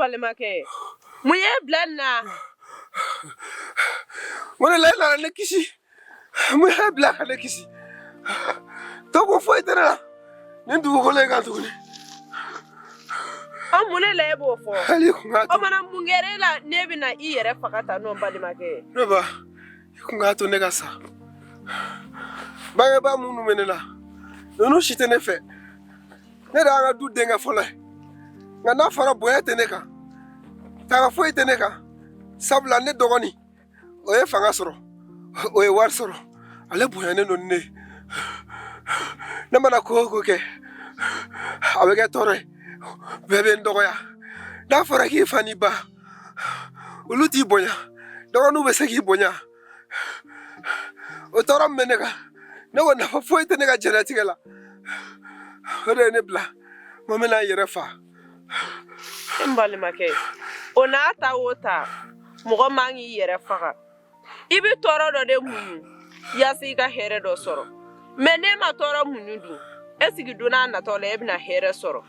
balimakɛ mun y'e bila nin na mun de la e nana ne kisi mun y'e bila ka ne kisi to kun foyi tɛ ne la nin dugukolo in kan tuguni an mun de la e b'o fɔ hali kun ka o mana mun kɛra e la n'e bɛna i yɛrɛ faga tan o n balimakɛ ye ne ba i kun k'a to ne ka sa bangebaa minnu bɛ ne la ninnu si tɛ ne fɛ ne de y'an ka du denkɛ fɔlɔ ye nka n'a fɔra bonya tɛ ne kan tanga foyi tɛ ne kan sabula ne dɔgɔnin o ye fanga sɔrɔ o ye wari sɔrɔ ale bonyanen don ni ne ne mana ko o ko kɛ a bɛ kɛ tɔɔrɔ ye bɛɛ bɛ n dɔgɔya n'a fɔra k'i fa ni ba olu t'i bonya dɔgɔninw bɛ se k'i bonya o tɔɔrɔ min bɛ ne kan ne ko nafa foyi tɛ ne ka diɲɛlatigɛ la o de ye ne bila n ko n bɛna n yɛrɛ fa n balimakɛ o n'a ta o ta mɔgɔ man k'i yɛrɛ faga i bɛ tɔɔrɔ dɔ de muɲu yasa i ka hɛrɛ dɔ sɔrɔ mɛ n'e ma tɔɔrɔ muɲu dun e sigi don n'a natɔ la e bɛna hɛrɛ sɔrɔ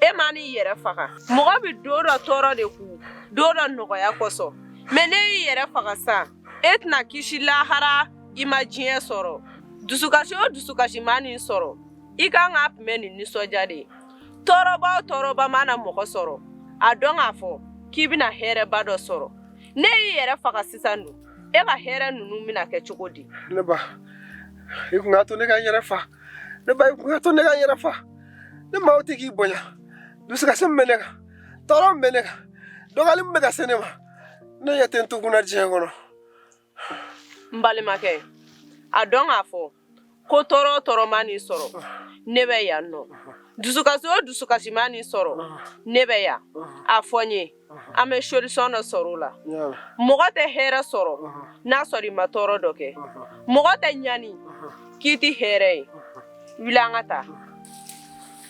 e man'i yɛrɛ faga mɔgɔ bɛ don dɔ tɔɔrɔ de ku don dɔ nɔgɔya kosɔn mɛ n'e y'i yɛrɛ faga sa e tɛna kisi lahara i ma diɲɛ sɔrɔ dusukasi o dusukasi man'i sɔrɔ i kan k'a kunbɛn ni nisɔndiya de ye tɔɔrɔba o tɔɔrɔba mana mɔgɔ sɔrɔ a dɔn k'a fɔ k'i bɛna hɛrɛba dɔ sɔrɔ n'e y'i yɛrɛ faga sisan dun e ka hɛrɛ ninnu bɛna kɛ cogo di ne ba i kun k'a to ne ka n yɛrɛ fa ne ba i kun k'a to ne ka n yɛrɛ fa ne maaw tɛ k'i bonya dusukasi min bɛ ne kan tɔɔrɔ min bɛ ne kan dɔgɔyali min bɛ ka se ne ma ne ɲɛ tɛ n to kun na diɲɛ kɔnɔ n balimakɛ a dɔn k'a fɔ ko tɔɔrɔ o tɔɔrɔ man'i sɔrɔ ne bɛ yan nɔ dusukasi o dusukasi man'i sɔrɔ ne bɛ yan a fɔ n ye an bɛ solution dɔ sɔrɔ o la mɔgɔ tɛ hɛrɛ sɔrɔ n'a sɔrɔ i ma tɔɔrɔ dɔ kɛ mɔgɔ tɛ ɲani k'i ti hɛrɛ ye wuli an ka taa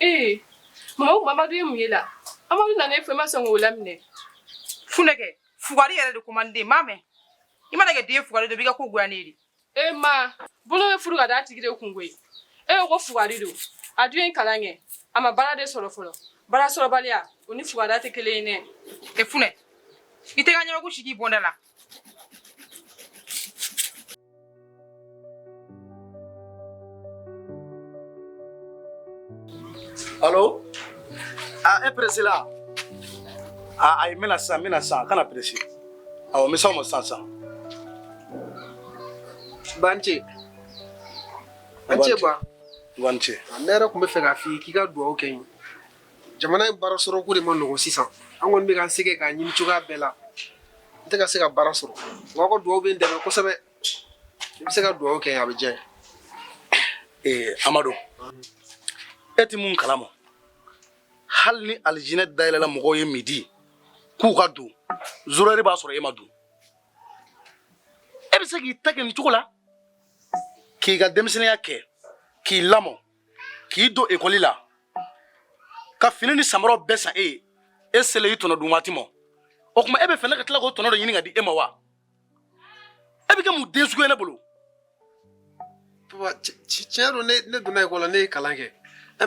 ee mama o amadu ye mun ye la amadu nana e fɛ i ma sɔn k'o laminɛ funɛ kɛ fugari yɛrɛ de ko man di den m'a mɛn i mana kɛ den fugari dɔ b'i ka ko goya ne ye dɛ e ma bolo bɛ furu ka d'a tigi de kun koyi e ko ko fugari don a dun ye kalan kɛ a ma baara de sɔrɔ fɔlɔ baara sɔrɔbaliya o ni fugariya tɛ kelen ye dɛ e funɛ i tɛ ka ɲɛbaku sigi i bɔnda la Alo aa e pressé la aa ayi n bɛ na sisan n bɛ na sisan kana pressé awɔ n bɛ s'aw ma sisan sisan. ba n ce an ce ba ba n ce ne yɛrɛ tun bɛ fɛ k'a f'i ye k'i ka dugawu kɛ n ye jamana in baara sɔrɔ ko de ma nɔgɔ sisan an kɔni bɛ k'an sɛgɛn k'a ɲini cogoya bɛɛ la n tɛ ka se ka baara sɔrɔ aw ka dugawu bɛ n dɛmɛ kosɛbɛ i bɛ se ka dugawu kɛ a bɛ diya n ye amadu e tɛ mun kalama hali ni alijinɛ dayɛlɛla mɔgɔw ye midi k'u ka don zéro heure b'a sɔrɔ e ma don e bɛ se k'i ta kɛ nin cogo la k'i ka denmisɛnninya kɛ k'i lamɔ k'i don ekɔli la ka fini ni samaraw bɛɛ san e ye e selen i tɔnɔ dun waati ma o tuma e bɛ fɛ ne ka tila k'o tɔnɔ dɔ ɲini ka di e ma wa e bɛ kɛ mun den sugu ye ne bolo. papa tiɲɛ don ne ne donna ekɔli la ne ye kalan kɛ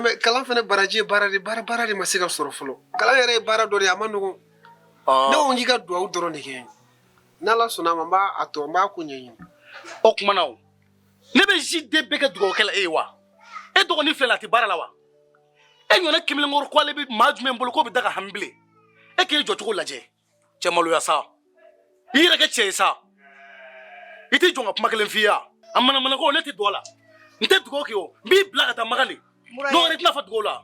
mais kalan fana baraji ye baara de baara baara de ma se ka sɔrɔ fɔlɔ kalan yɛrɛ ye baara dɔ de ye a man nɔgɔn ne ko n k'i ka duwawu dɔrɔn de kɛ n'ala sɔnna a ma n b'a a tɔ n b'a ko ɲɛɲini o kuma na o ne bɛ ji den bɛɛ kɛ dugawu kɛ la e ye wa e dɔgɔnin filɛ la a tɛ baara la wa e ɲɔgɔnna kamalenkɔrɔ ko ale bɛ maa jumɛn bolo k'o bɛ da ka hami bilen e k'i jɔcogo lajɛ cɛ maloya sa i yɛrɛ kɛ cɛ ye sa i tɛ jɔn ka kuma kelen f'i ye a manamanako ne tɛ don a la n tɛ dugawu kɛ o n b'i bila ka taa magali dɔ wɛrɛ tɛna fɔ dugawu la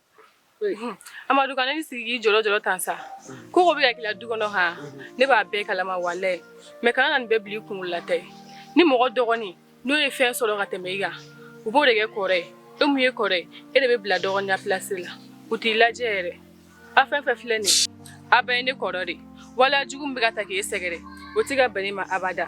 Amadu kana n'i sigi k'i jɔrɔ jɔrɔ tan sa ko ko bɛ ka k'i la du kɔnɔ han ne b'a bɛɛ kalama walayi mais kana na nin bɛɛ bila i kunkolo la ten ni mɔgɔ dɔgɔnin n'o ye fɛn sɔrɔ ka tɛmɛ i kan u b'o de kɛ kɔrɔ ye e min ye kɔrɔ ye e de bɛ bila dɔgɔninya place la u t'i lajɛ yɛrɛ a fɛn fɛn filɛ nin ye a bɛɛ ye ne kɔrɔ de ye waleya jugu min bɛ ka taa k'e sɛgɛrɛ o tɛ ka bɛn ne ma abada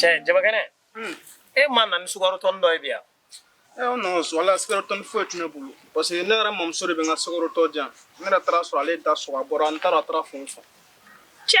cɛ jabakɛnɛ e ma na ni sukaro tɔni dɔ ye bi yan ɛ o nɔ so ala sukaro tɔni foyi tɛ ne bolo parce que ne yɛrɛ mamuso de bɛ n ka sukaro tɔ jan ne yɛrɛ taara sɔrɔ ale da sɔgɔ a bɔra n taara a taara fɛn fɔ cɛ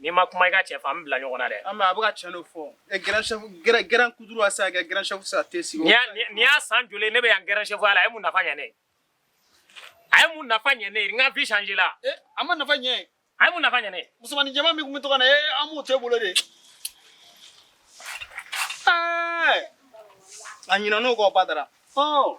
N'i ma kuma i ka cɛ fɛ an bɛ bila ɲɔgɔn na dɛ, an bɛn a bɛ ka tiɲɛ de fɔ, ɛ grand chef grand kutuuru a tɛ se ka kɛ grand chef tɛ se ka thé sigi, nin y'a nin y'a san joli ye ne bɛ yan grand chef ya la a ye mun nafa ɲɛ ne ye, a ye mun nafa ɲɛ ne ye n ka vie changer la, ee a ma nafa ɲɛ, a ye mun nafa ɲɛ ne ye, musomannin jɛman min tun bɛ to ka na ee an m'o to e bolo de, ɛɛ a ɲinɛna o kɔ badara, ɔɔ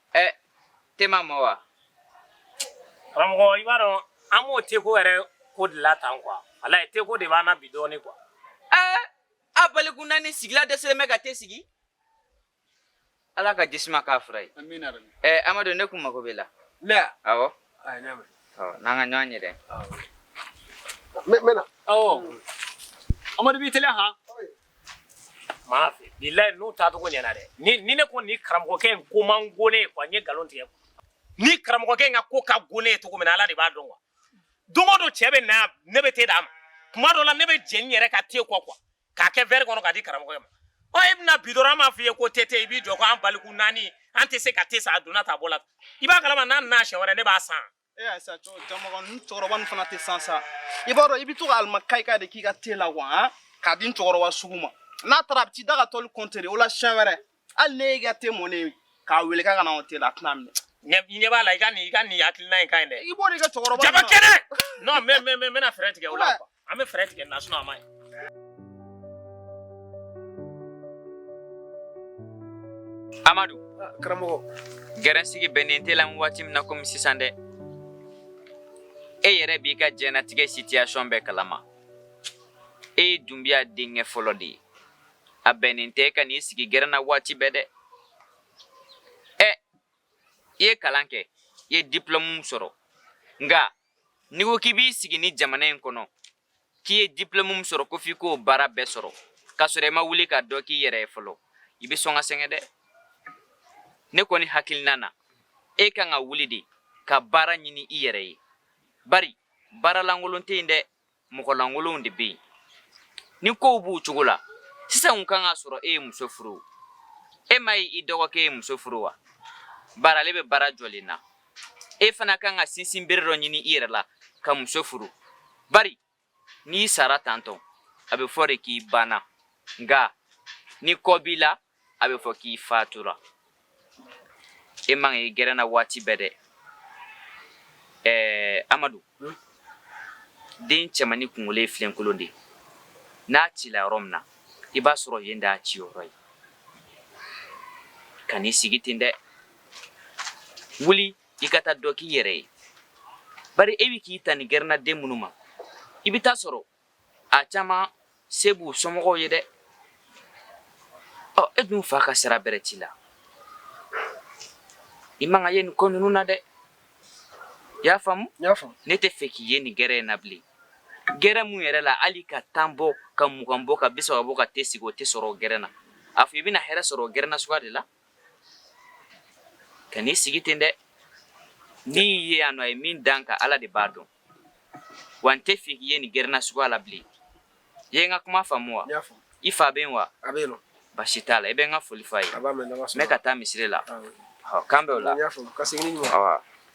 ɛ te ma mɔ wa karamɔgɔ i b'a dɔn an b'o teko yɛrɛ ko de la tan quoi walayi teko de b'an na bi dɔɔni quoi ɛɛ an baliku naani sigila dɛsɛlen bɛ ka te sigi ala ka jisuma k'a fura ye ɛɛ amadu ne kun mago b'i la awɔ n'an ka ɲɔgɔn ye dɛ n bɛ na amadu b'i teliya han maa fɛ bilayi n'u taacogo ɲɛna dɛ ni ni ne ko nin karamɔgɔkɛ in ko man go ne ye quoi n ye nkalon tigɛ ni karamɔgɔkɛ in ka ko ka go ne ye cogo min na ala de b'a dɔn quoi don o don cɛ bɛ na yan ne bɛ te d'a ma tuma dɔ la ne bɛ jɛn ne yɛrɛ ka te kɔ quoi k'a kɛ verre kɔnɔ k'a di karamɔgɔkɛ ma ɔ e bɛna bi dɔrɔn an b'a f'i ye ko te te i b'i jɔ ko an baliku naani an tɛ se ka te san a donna ta a bɔ la i b'a kalama n'a nana siɲɛ wɛrɛ ne b'a san E y'a sa cɛkɔrɔba nin fana tɛ san sa i b'a dɔn i bɛ to ka alimukayikayi de k'i ka te la wa k'a di cɛkɔrɔba sugu ma n'a taara a bɛ t'i da ka tɔli kɔntere o la siɲɛ wɛrɛ hali n'e y'i ka te mɔnen k'a wele k'a ka na o te la a tɛna minɛ ɲɛ b'a la i ka nin i ka nin hakilina in ka ɲi dɛ i b'o de kɛ cɛkɔrɔba jaba kɛnɛ non mais mais mais n bɛna fɛɛrɛ tigɛ o la quoi an bɛ fɛɛrɛ tigɛ na a man ɲi amadu ah, karamɔgɔ gɛrɛnsigi bɛnnen t'e la waati min na komi sisan dɛ e yɛrɛ b'i ka jɛnatigɛ situation bɛɛ kalama e ye dunbiya denkɛ fɔlɔ de ye a bɛnnen tɛ i ka n'i sigi gɛrɛn na waati bɛɛ dɛ ɛ i ye kalan kɛ i ye dipulɔmu sɔrɔ nka n'i ko k'i b'i sigi nin jamana in kɔnɔ k'i ye diplɔmu min sɔrɔ ko f'i k'o baara bɛɛ sɔrɔ k'a sɔrɔ i ma wuli ka dɔ k'i yɛrɛ ye fɔlɔ i bɛ sɔn ka sɛgɛn dɛ ne kɔni hakilina na e kan ka wuli de ka baara ɲini i yɛrɛ ye bari baara lankolon tɛ yen dɛ mɔgɔlankolonw de bɛ yen ni kow b'u cogo la sisan kun kan k'a sɔrɔ e ye muso furu e m'a ye i dɔgɔkɛ ye muso furu wa bari ale bɛ baara jɔlen na e fana kan ka sinsin bere dɔ ɲini i yɛrɛ la ka muso furu bari n'i sara tantɔ a bɛ fɔ de k'i banna nka ni kɔ b'i la a bɛ fɔ k'i fatura e man ka ye gɛrɛn na waati bɛɛ dɛ ɛɛ amadu hmm? den cɛmanni kunkolo ye filenkolon de ye n'a cila yɔrɔ min na i b'a sɔrɔ yen d'a ci yɔrɔ ye kan'i sigi ten dɛ wuli i ka taa dɔ k'i yɛrɛ ye bari e bɛ k'i ta nin gɛrɛnnaden minnu ma i bɛ taa sɔrɔ a caman se b'u somɔgɔw ye dɛ ɔ e dun fa ka sira bɛrɛ t'i la i man ka ye nin ko ninnu na dɛ i y'a faamu ne t'a fɛ k'i ye nin gɛrɛn in na bilen gɛrɛn mun yɛrɛ la hali ka tan bɔ ka mugan bɔ ka bisaba bɔ ka te sigi o tɛ sɔrɔ o gɛrɛn na a fɔ i bɛna hɛrɛ sɔrɔ o gɛrɛn na suguya de la kan'i sigi ten dɛ n'i ye yan nɔ a ye min dan ka ala de b'a dɔn wa n t'a fɛ k'i ye nin gɛrɛnna suguya la bilen i ye n ka kuma faamu wa i fa bɛ yen wa basi t'a la i bɛ n ka foli f'a ye n bɛ ka taa misiri la k'an bɛn wula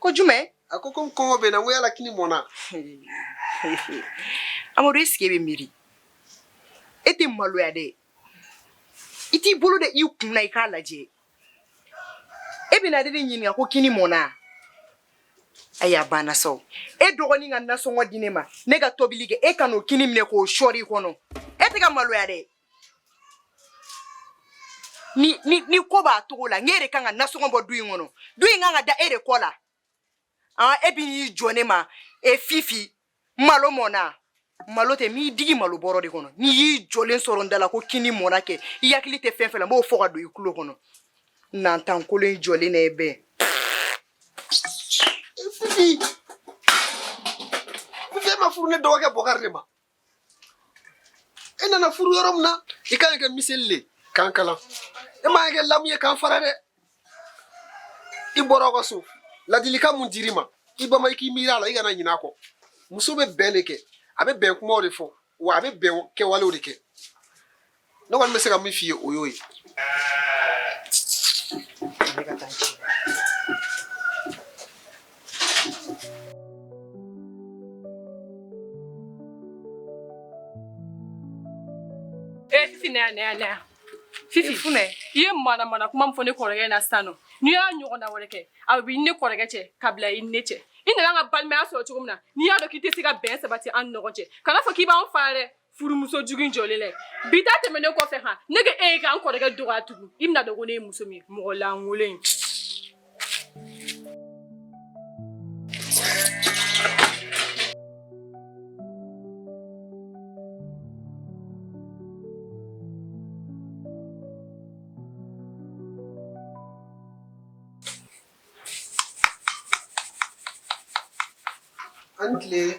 ko jumɛn a ko komi kɔngɔ bɛ n na n ko yala kini mɔna amadu est-ce que e bɛ miiri e tɛ maloya dɛ i t'i bolo da i kun na i k'a lajɛ e bɛna ne de ɲininka ko kini mɔna ayi a banna sa o e dɔgɔnin ka nasɔngɔ di ne ma ne ka tobili kɛ e ka n'o kini minɛ k'o sɔɔri i kɔnɔ e tɛ ka maloya dɛ ni ni ni ko b'a cogo la n'e de kan ka nasɔngɔ bɔ du in kɔnɔ du in kan ka da e de kɔ la an e bi n'i jɔ ne ma e fifi malo mɔna malo tɛ m'i digi malo bɔrɔ de kɔnɔ n'i y'i jɔlen sɔrɔ n da la ko kini mɔna kɛ i hakili tɛ fɛn fɛn la n b'o fɔ ka don i kulo kɔnɔ nantan kolon in jɔlen na e bɛɛ fifi fifi e ma furu ne dɔgɔkɛ bɔkari de ma e nana furu yɔrɔ min na i kan ka kɛ miseli le k'an kala e ma kɛ lamu ye k'an fara dɛ i bɔra aw ka so ladilikan mun dir'i ma i bama i k'i miiri a la i kana ɲinɛ a kɔ muso bɛ bɛn de kɛ a bɛ bɛn kumaw de fɔ wa a bɛ bɛn kɛwalew de kɛ ne kɔni bɛ se ka min f'i ye o y'o ye ne ka taa ci Eh, Fifi, na yan, na yan, na yan. Fifi, funɛ. I ye manamana kuma min fɔ ne kɔrɔkɛ na sisan nɔ. N'i y'a ɲɔgɔnna wɛrɛ kɛ, a bɛ i ni ne kɔrɔkɛ cɛ, ka bila i ni ne cɛ. I nana an ka balimaya sɔrɔ cogo min na, n'i y'a dɔn k'i tɛ se ka bɛn sabati an ni ɲɔgɔn cɛ, kana fɔ k'i b'an fara dɛ. furumuso jugu in jɔlen lɛ bi ta tɛmɛnen kɔfɛ han ne ka e ye k'an kɔrɔkɛ dɔgɔya tugun i bɛn'a dɔn ko ne ye muso min ye mɔgɔ lankolon in An tile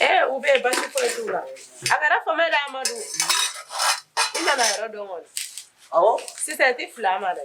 Ee u bɛ basi foyi t'u la a kɛra fama dɛ amadu i nana yɔrɔ dɔn kɔni sisan i tɛ fil'a ma dɛ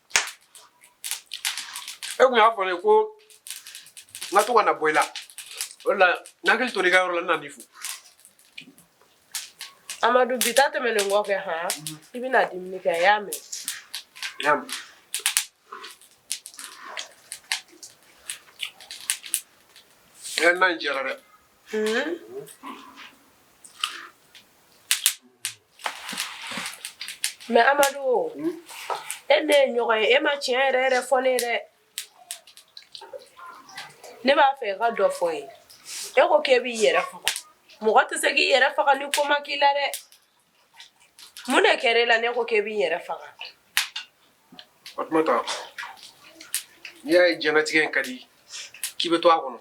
e kun y'a fɔ ne ko n ka to ka na bɔ i la o de la n hakili tora i ka yɔrɔ la n nan'i fo amadu bi ta tɛmɛnen kɔfɛ han i bɛna dumuni kɛ i y'a mɛn i y'a mɛn ɛ na in diyara dɛ mɛ amadu e ne ye ɲɔgɔn ye e ma tiɲɛ yɛrɛ yɛrɛ fɔ ne ye dɛ ne b'a fɛ i ka dɔ fɔ n ye e ko k'e b'i yɛrɛ faga mɔgɔ tɛ se k'i yɛrɛ faga ni ko ma k'i la dɛ mun de kɛra e la n'e ko k'e b'i yɛrɛ faga fatumata n'i y'a ye diɲɛnatigɛ in ka di k'i bɛ to a kɔnɔ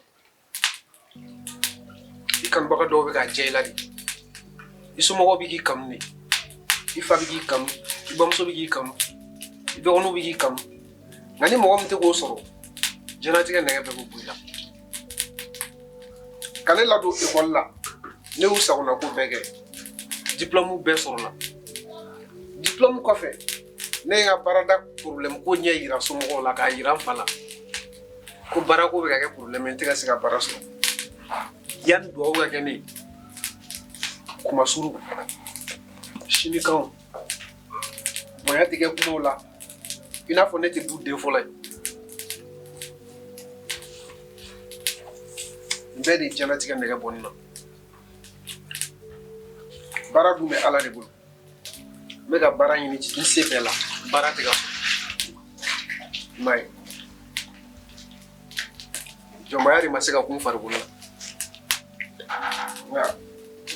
i kanubaga dɔw bɛ ka jɛ i la de i somɔgɔw bɛ k'i kanu de i fa bɛ k'i kanu i bamuso bɛ k'i kanu i dɔgɔninw bɛ k'i kanu nka ni mɔgɔ min tɛ k'o sɔrɔ diɲɛlatigɛ nɛgɛ bɛɛ bɛ bɔ i la ka ne ladon ekɔli la ne y'u sagona ko bɛɛ kɛ diplɔmu bɛɛ sɔrɔla diplɔmu kɔfɛ ne ye n ka baarada porobilɛmu koɲɛ yira somɔgɔw la k'a yira n fa la ko baarako bɛ ka kɛ porobilɛmu ye n tɛ ka se ka baara sɔrɔ yanni dugawu ka kɛ ne ye kuma suru sinikanw bonya tɛ kɛ kumaw la i n'a fɔ ne tɛ du den fɔlɔ ye nin bɛɛ de ye diɲɛlatigɛ nɛgɛ bɔ ne na baara dun bɛ ala de bolo N bɛ ka baara ɲini n se bɛɛ la baara tɛ ka sɔrɔ i m'a ye jɔnbaya de ma se ka kun farikolo la nka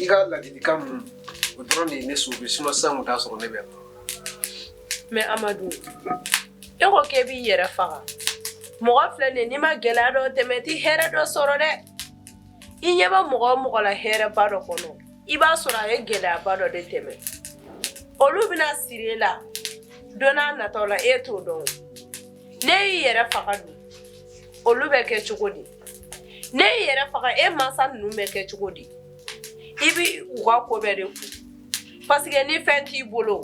i ka ladilikan ninnu o dɔrɔn de ye ne sove sinon sisan kun t'a sɔrɔ ne bɛ yan mɛ amadu e ko k'e b'i yɛrɛ faga mɔgɔ filɛ nin ye n'i ma gɛlɛya dɔ tɛmɛ i ti hɛrɛ dɔ sɔrɔ dɛ i ɲɛ bɛ mɔgɔ o mɔgɔ la hɛrɛba dɔ kɔnɔ i b'a sɔrɔ a ye gɛlɛyaba dɔ de tɛmɛ olu bɛna siri e la don n'a nataw la e t'o dɔn n'e y'i yɛrɛ faga dun olu bɛ kɛ cogo di n'e y'i yɛrɛ faga e mansa ninnu bɛ kɛ cogo di i bɛ u ka ko bɛɛ de kun paseke ni fɛn t'i bolo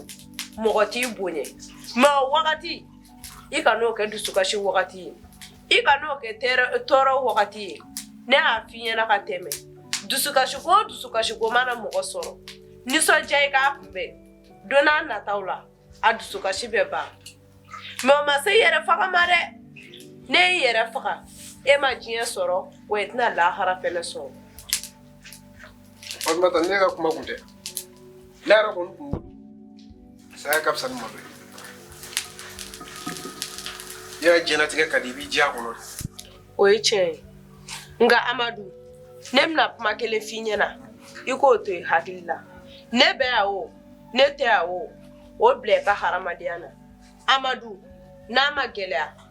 mɔgɔ t'i bonya mɛ o wagati i kan'o kɛ dusukasi wagati ye i kan'o kɛ tɔɔrɔ wagati ye ne y'a f'i ɲɛna ka tɛmɛ dusukasiko o dusukasiko mana mɔgɔ sɔrɔ nisɔndiya i k'a kunbɛn don n'a nataw la a dusukasi bɛ ban mɛ o ma se yɛrɛ faga ma dɛ n'e y'i yɛrɛ faga e ma diɲɛ sɔrɔ wa i tɛna lahara fɛnɛ sɔrɔ fatumata ne ka kuma kun tɛ ne yɛrɛ kɔni kun saya ka fisa ni malo ye yɛrɛ diɲɛlatigɛ ka di i b'i diya kɔnɔ o ye tiɲɛ ye nka amadu ne bɛna kuma kelen f'i ɲɛna i k'o to i hakili la ne bɛ yan o ne tɛ yan o o bila i ka hadamadenya na amadu n'a ma gɛlɛya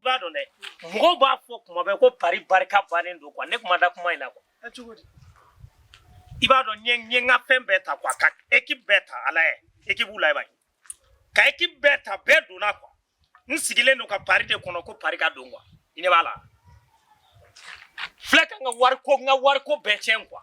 i b'a dɔn dɛ mɔgɔw b'a fɔ kuma bɛɛ ko pari barika bannen don quoi ne kuma da kuma in na quoi i b'a dɔn n ye n ka fɛn bɛɛ ta quoi ka équipe bɛɛ ta ala ye équipe la i b'a ye ka équipe bɛɛ ta bɛɛ donna quoi n sigilen don ka pari de kɔnɔ ko pari ka don quoi i ɲɛ b'a la filɛ ka n ka wariko n ka wariko bɛɛ tiɲɛ quoi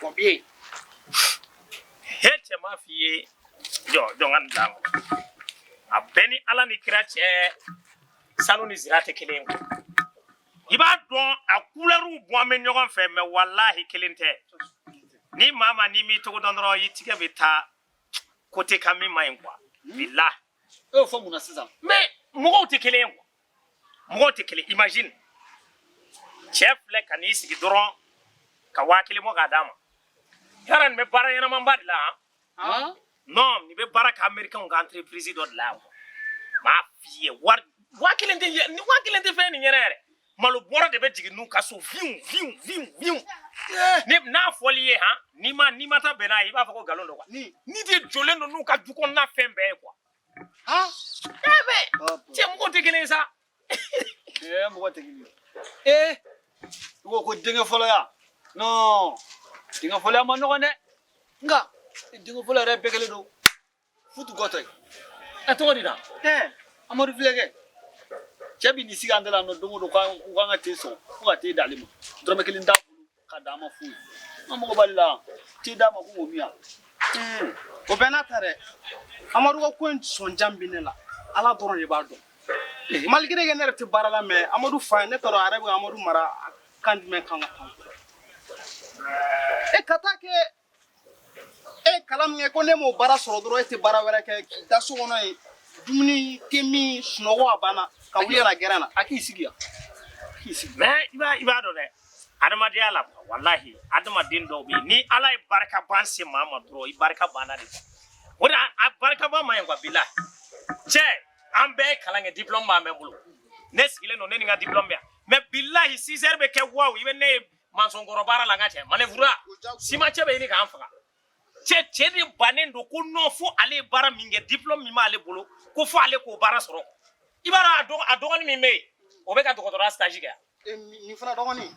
Bɔnbiye he cɛ m'a f'i ye jɔ jɔnkani bila a bɛ n ni ala ni kira cɛ sanu ni zira tɛ kelen ye i b'a dɔn a kulɛriw bɔlen bɛ ɲɔgɔn fɛ mais walahi kelen tɛ ni maa ma n'i m'i cogo dɔn dɔrɔn i tigɛ bɛ taa côté kan min man ɲi quoi bilahi e y'o fɔ mun na sisan mais mɔgɔw tɛ kelen ye quoi mɔgɔw tɛ kelen imagine cɛ filɛ ka n'i sigi dɔrɔn ka waa kelen bɔ k'a d'a ma yala nin bɛ baara ɲɛnamaba de la han non nin bɛ baara kɛ américain ka entreprise dɔ de la yan m'a f'i ye wari waa kelen tɛ ni waa kelen tɛ fɛn nin ɲɛna yɛrɛ malo bɔrɔ de bɛ jigin n'u ka so viw viw viw viw ne n'a fɔli ye han n'i ma n'i ma taa bɛn n'a ye i b'a fɔ ko nkalon don quoi nin de jɔlen don n'u ka du kɔnɔna fɛn bɛɛ ye quoi Ah, Cɛ mɔgɔ tɛ kelen ye sa. Ɛɛ mɔgɔ tɛ kelen ye. Ee. I ko ko denkɛ fɔlɔ ya. Non. Denkɛ fɔlɔ ya man nɔgɔn dɛ. Nka denkɛ fɔlɔ yɛrɛ bɛɛ kelen don. Futu gɔtɔ ye. A tɔgɔ de da. Ɛɛ Amadu filɛ kɛ. Cɛ bi n'i sigi an da la nɔ don o don k'an ka te sɔn fo ka te d'ale ma. Dɔrɔmɛ kelen t'a bolo. Ka d'a ma foyi an mago b'ale la te d'a ma ko k'o min yan o bɛɛ n'a ta dɛ amadu ka ko in sɔnjan bɛ ne la ala dɔrɔn de b'a dɔn malgré que ne yɛrɛ tɛ baara la mais amadu fa ye ne tɔɔrɔ a yɛrɛ bɛ amadu mara kan jumɛn kan ka kan e ka taa kɛ e ye kalan min kɛ ko ne m'o baara sɔrɔ dɔrɔn e tɛ baara wɛrɛ kɛ k'i da so kɔnɔ yen dumuni te min sunɔgɔ a banna ka wuli ka na gɛrɛn na a k'i sigi yan a k'i sigi mais i b'a i b'a dɔn dɛ adamadenya la walahi adamaden dɔw bɛ yen ni ala ye barika ban se maa ma dɔrɔn i barika banna de o de a barika ban ma ye wa bilahi cɛ an bɛɛ ye kalan kɛ diplɔmu b'an bɛɛ bolo ne sigilen don ne ni n ka diplɔmu bɛ yan mais bilahi sizɛri bɛ kɛ wawu i bɛ ne ye mansɔnkɔrɔ baara la n ka cɛ manœuvre simancɛ bɛ ɲini k'an faga cɛ cɛ de bannen don ko non fo ale ye baara min kɛ diplôme min b'ale bolo ko fo ale k'o baara sɔrɔ i b'a dɔn a dɔgɔnin min bɛ yen o bɛ ka dɔgɔtɔrɔya stage kɛ eh, nin fana dɔgɔnin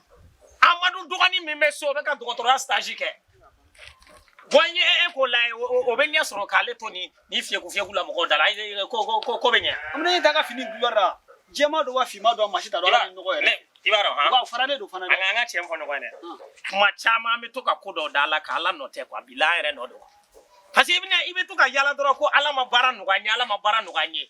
amadu dɔgɔnin min bɛ so o bɛ ka dɔgɔtɔrɔya stage kɛ bon n ye e k'o la o bɛ ɲɛ sɔrɔ k'ale to nin ni fiyɛku fiyɛku la mɔgɔw da la ko ko ko ko bɛ ɲɛ an bɛ ne ta ka fini couleur la jɛma don wa finma don wa maa si t'a dɔn ala ni nɔgɔ yɛrɛ i b'a dɔn han faralen don fana dɛ an ka tiɲɛ fɔ ɲɔgɔn ye dɛ kuma caman an bɛ to ka ko dɔw da ala kan ala nɔ tɛ quoi bi la an yɛrɛ nɔ don parce que i bɛna i bɛ to ka yala dɔrɔn ko ala ma baara nɔgɔya n ye ala ma baara nɔgɔya n ye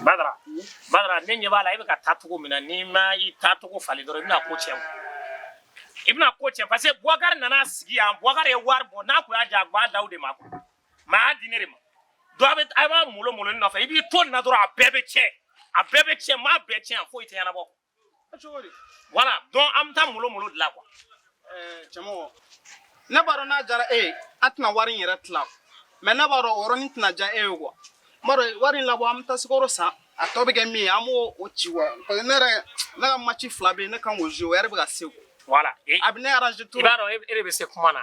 Badara Badara ne ɲɛ b'a la e bɛ ka taa cogo min na n'i ma i taa cogo falen dɔrɔn i bɛna ko cɛn i bɛna ko cɛn parce que Boubacar nana sigi yan Boubacar ye wari bɔ n'a tun y'a diya a tun b'a d'aw de ma quoi mais a y'a di ne de ma donc a bɛ a b'a molo molo ne nɔfɛ i b'i to nin na dɔrɔn a bɛɛ bɛ cɛn a bɛɛ bɛ cɛn n b'a bɛɛ cɛn yan foyi tɛ ɲɛnabɔ. voilà donc an bɛ taa molo molo de la quoi cɛmɔgɔ ne b'a dɔn n'a jara e ye an tɛna wari in yɛrɛ tila mais ne b'a dɔn o yɔrɔnin tɛna diya e ye quoi n b'a dɔn wari in labɔ an bɛ taa sukaro san a tɔ bɛ kɛ min ye an b'o o ci wa parce que ne yɛrɛ ne ka match fila bɛ yen ne kan k'o jouer o yɛrɛ bɛ ka se voilà a bɛ ne arranger tout i b'a dɔn e de bɛ se kuma na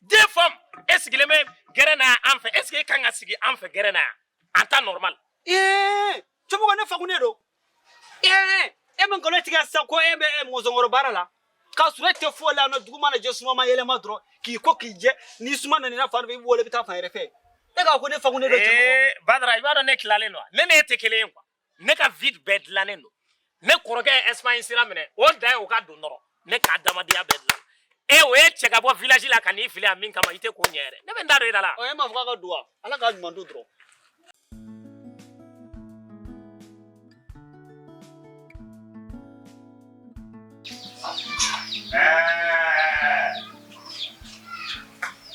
deux femmes e sigilen bɛ gɛrɛn na an fɛ est-ce que e kan ka sigi an fɛ gɛrɛn na yan en temps normal cɛmɔgɔ ne fakunnen don e bɛ nkalon tigɛ sa ko e bɛ e mɔzɔnkɔrɔ baara la k'a sɔrɔ e tɛ foyi la dugu mana jɛ suma ma yɛlɛma dɔrɔn k'i ko k'i jɛ ni suma nana fan fɛ i bɛ wuli i bɛ taa fan wɛrɛ fɛ e ka ko ne fakunnen don badara i b'a dɔn ne tilalen don ne ni e tɛ kelen ye quoi ne ka vie bɛɛ dilannen don ne kɔrɔkɛ ye Espagne sira minɛ o dan ye o ka don dɔrɔn ne ka adamadenya bɛɛ dilan e o ye cɛ ka bɔ village la ka n'i fili a min kama i tɛ ko ɲɛ yɛrɛ ne bɛ n da don i da la. ɔ e m'a fɔ k'a ka don wa ala k'a ɲuman don dɔrɔn.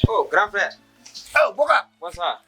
Oh, grand frère. Oh, Boka. Bonsoir.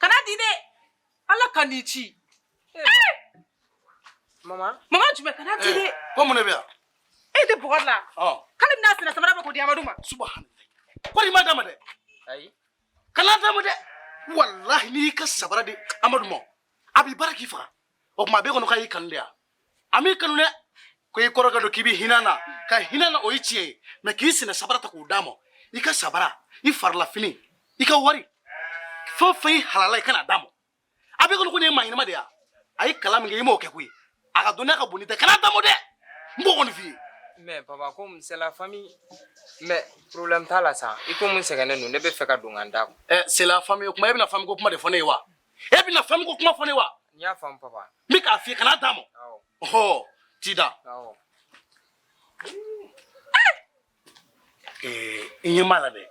kan'a di dɛ ala kan'i ci mama mama jumɛn kan'a di dɛ ko mun de bɛ yan e tɛ Boka la k'ale bɛna sen na sabara bɔ k'o di amadu ma subahana kori i m'a d'a ma dɛ ayi kan'a d'a ma dɛ walahi n'i y'i ka sabara di amadu ma a b'i baara k'i faga o tuma a b'e kɔnɔ k'a y'i kanu de yan a m'i kanu dɛ ko i kɔrɔkɛ don k'i bɛ hinɛ na ka hinɛ na o ye tiɲɛ ye mais k'i sen na sabara ta k'o d'a ma i ka sabara i farilafini i ka wari fɛn o fɛn i halala i kan'a d'a ma a b'e kɔnɔ ko nin ye maa ɲɛnama de ye a ye kalan min kɛ i m'o kɛ koyi a ka dɔnniya ka bon n'i ta ye kan'a d'a ma dɛ n b'o kɔni f'i ye. mais papa comme c'est la famille mais problème t'a la sa i ko mun sɛgɛnnen don ne b'a fɛ ka don ka n da kun. ɛ c'est la famille kuma e bɛna famille ko kuma de fɔ ne ye wa. e bɛna fɛn min ko kuma fɔ ne wa n y'a faamu papa n bɛ k'a f'i ye kana d'a ma awɔ ɔhɔ t'i da awɔ ee i ɲɛ m'a la dɛ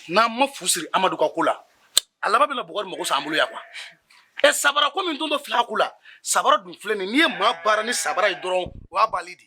n'an ma fu siri amadu ka ko la a laban bɛna buguri mago sa an bolo yan kuwa ɛ sabara ko min don dɔ fila ko la sabara dun filɛ nin n'i ye maa baara ni sabara ye dɔrɔn o y'a bali de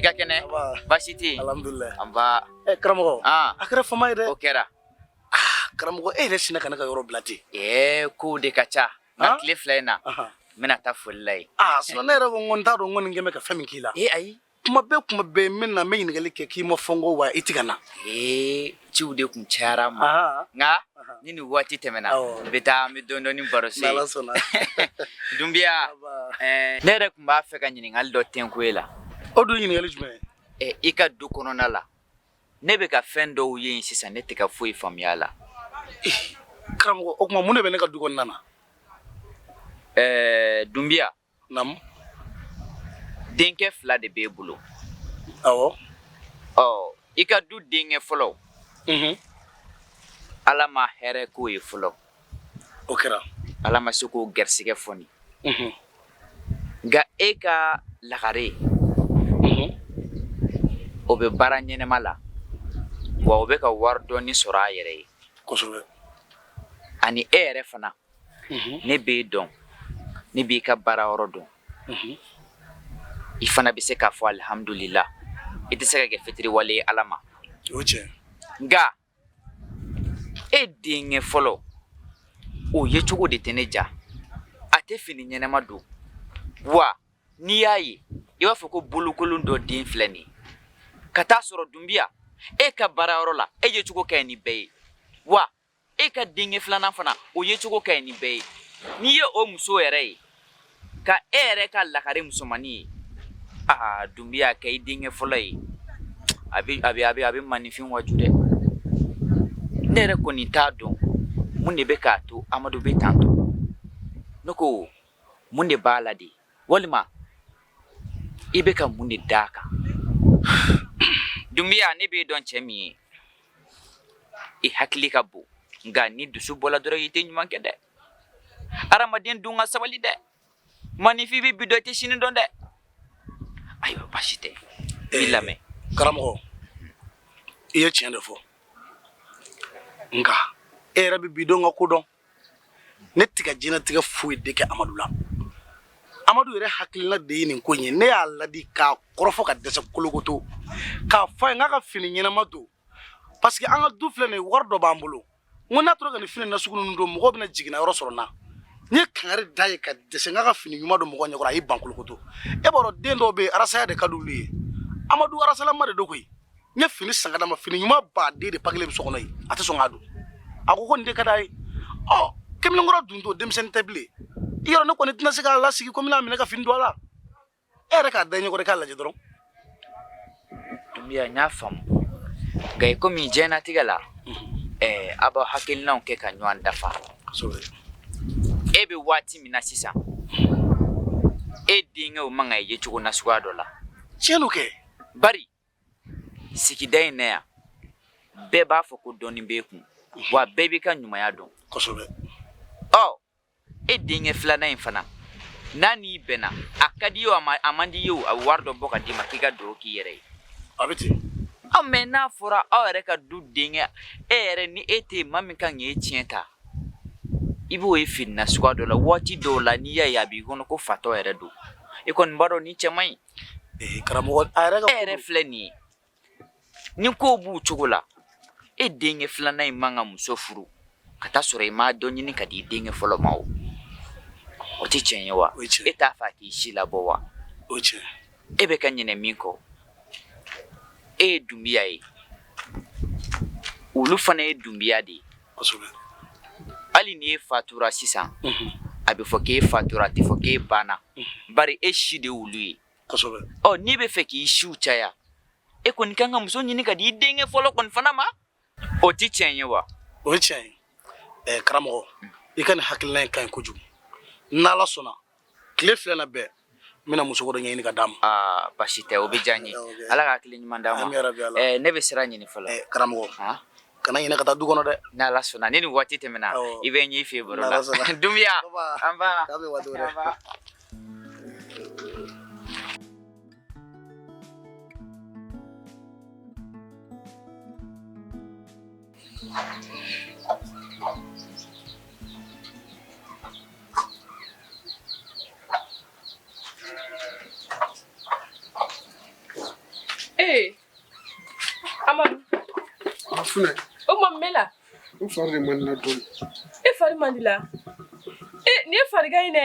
i ka kɛnɛ baasi tɛ yen alhamdulilayi nba ɛ karamɔgɔ a kɛra fama ye dɛ o kɛra karamɔgɔ e yɛrɛ sinna ka ne ka yɔrɔ bila ten ɛɛ kow de ka ca nka tile fila in na n bɛna taa foli la yen aa sinɔn ne yɛrɛ ko n ko n t'a dɔn n kɔni kɛlen bɛ ka fɛn min k'i la ee ayi kuma bɛɛ kuma bɛɛ n bɛ na n bɛ ɲininkali kɛ k'i ma fɔ n kɔ wa i ti ka na ee ciw de tun cayara n ma nka ni nin waati tɛmɛna n bɛ taa n bɛ dɔɔnin dɔɔnin baro se dunbiya ne yɛrɛ tun b'a fɛ ka ɲininkali dɔ tɛnku e la o dun ɲininkali jumɛn i ka du kɔnɔna la ne bɛ ka fɛn dɔw ye sisan ne tɛ ka foyi faamuya a la eh, karamɔgɔ o tuma mun de bɛ ne ka du kɔnɔna na ɛɛ eh, dunbiya naamu denkɛ fila de b'e bolo awɔ ɔ i ka du denkɛ fɔlɔ mhm. ala ma hɛrɛ k'o ye fɔlɔ O kɛra ala ma se k'o garisɛgɛ foni nka e ka lagare o bɛ baara ɲɛnama la wa o bɛ ka wari dɔɔni sɔrɔ a yɛrɛ ye kosɛbɛ ani e yɛrɛ fana ne b'i dɔn ne b'i ka baara yɔrɔ dɔn i fana bɛ se k'a fɔ alihamdulila i tɛ se ka kɛ fitiriwale ye ala ma nka e denkɛ fɔlɔ o yecogo de tɛ ne diya a tɛ fini ɲɛnama don wa n'i y'a ye i b'a fɔ ko bolokolon dɔ den filɛ nin ye ka taa sɔrɔ dunbiya e ka baarayɔrɔ la e yecogo ka ɲi ni bɛɛ ye wa e ka denkɛ filanan fana o yecogo ka ɲi ni bɛɛ ye n'i ye o muso yɛrɛ ye ka e yɛrɛ ka lagare musomannin ye aa dunbiya k'i denkɛ fɔlɔ ye a bɛ maaninfin waaju dɛ ne yɛrɛ kɔni t'a dɔn mun de bɛ k'a to amadu bɛ tan to ne ko mun de b'a la de walima i bɛ ka mun de d'a kan dunbiya ne b'e dɔn cɛ min ye i hakili ka bon nka n'i dusu bɔla dɔrɔn i tɛ ɲuman kɛ dɛ Adamaden dun ka sabali dɛ manifin bɛ bi dɔn a tɛ sini dɔn dɛ ayiwa basi tɛ n b'i lamɛn karamɔgɔ i ye tiɲɛ de fɔ nka e yɛrɛ bɛ bi dɔn ka ko dɔn ne tɛ ka diɲɛnatigɛ foyi de kɛ amadu la amadu yɛrɛ hakilila de ye nin ko in ye ne y'a ladi k'a kɔrɔfɔ ka dɛsɛ kolokoto k'a fɔ a ye k'a ka fini ɲɛnama don parce que an ka du filɛ nin wari dɔ b'an bolo n ko n'a tora ka nin fini nasugu ninnu don mɔgɔw bɛna jiginna yɔrɔ sɔrɔ n na n ye kangari d'a ye ka dɛsɛ k'a ka fini ɲuman don mɔgɔ ɲɛkɔrɔ a y'i ban kolokoto e b'a dɔn den dɔw bɛ yen arasaya de ka di olu ye amadu arasalama de don koyi n ye fini san ka d'a ma fini ɲumanba de pakelen bɛ so kɔnɔ yen a tɛ sɔn k'a don a ko ko nin de ka d'a ye ɔ kamalenkɔrɔ dun don denmisɛnnin tɛ bilen i y'a dɔn ne kɔni tɛna se k'a lasigi ko n b'a minɛ ka fini don a la e yɛrɛ k'a da ɲɔgɔn de k'a lajɛ dɔrɔn dunbiya n y'a faamu nka i komi diɲɛnatigɛ la ɛɛ aw b'aw hakilinaw kɛ ka ɲɔgɔn dafa e bɛ waati min na sisan e denkɛw man kan ka ye cogo nasuguya dɔ la tiɲɛ don kɛ bari sigida in na yan bɛɛ b'a fɔ ko dɔɔnin b'e kun wa bɛɛ b'i ka ɲumanya dɔn kosɛbɛ ɔ e denkɛ filanan in fana n'a n'i bɛnna a ka d'i ye o a man d'i ye o a bɛ wari dɔ bɔ ka d'i ma k'i ka dɔ k'i yɛrɛ ye a bɛ ten aa mais n'a fɔra aw yɛrɛ ka du denkɛ e yɛrɛ ni e tɛ maa min kan k'e tiɲɛ ta i b'o ye fini nasuguya dɔ la waati dɔw la n'i y'a ye a b'i kɔnɔ ko fatɔ yɛrɛ don e kɔni b'a dɔn nin cɛ man ɲi karamɔgɔ a yɛrɛ ka e yɛrɛ filɛ nin ye Ni kow b'u cogo la e denkɛ filanan in man kan ka muso furu ka taa sɔrɔ i ma dɔ ɲini ka di i denkɛ fɔlɔ ma o o tɛ tiɲɛ ye wa e t'a fɛ k'i si labɔ wa o tiɲɛ e bɛ ka ɲinɛ min kɔ e ye dunbiya ye olu fana ye dunbiya de ye hali ni e fatura sisan a bɛ fɔ k'e fatura a tɛ fɔ k'e banna bari e si de y'olu ye kosɛbɛ ɔ n'i b'a fɛ k'i siw caya e kɔni kan ka muso ɲini ka di i denkɛ fɔlɔ kɔni fana ma o tɛ tiɲɛ ye wa o ye tiɲɛ ye ɛɛ karamɔgɔ i ka nin hakilina in ka ɲi kojugu n'ala sɔnna tile fila in na bɛɛ n bɛna muso dɔ ɲɛɲini ka d'a ma aa basi tɛ o bɛ diya n ye ala ka hakili ɲuman d'a ma Ami yarabi ala. ɛɛ ne bɛ sira ɲini fɔlɔ Ɛɛ, karamɔgɔ Han? kana ɲinɛ ka taa du kɔnɔ dɛ n'ala sɔnna ni nin waati tɛmɛna Awɔ. i bɛ n ye i fɛ yen baro la N'Ala sɔnna. dunbiya Baba. nba K'an bɛn waati wɛrɛ. Nba. Ee Amadu funɛ o tuma mun b'e la n fari de man di la dɔɔnin e fari man di la e nin ye farigan ye dɛ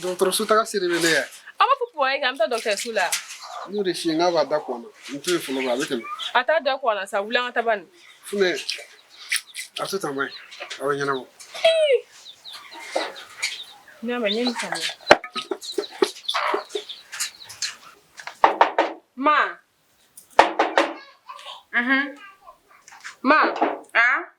dɔgɔtɔrɔso taga siri bɛ ne yɛ aw b'a fɔ kuma ye k'an bɛ taa dɔgɔtɔrɔso la n y'o de f'i ye n k'a b'a da kɔn na n to yen fɔlɔ ba a bɛ tɛmɛ a t'a da kɔn na sa wuli an ka taa bani funɛ a to tan maɲi a bɛ ɲɛnabɔ n'a ma ɲɛ nin faamuya ma ma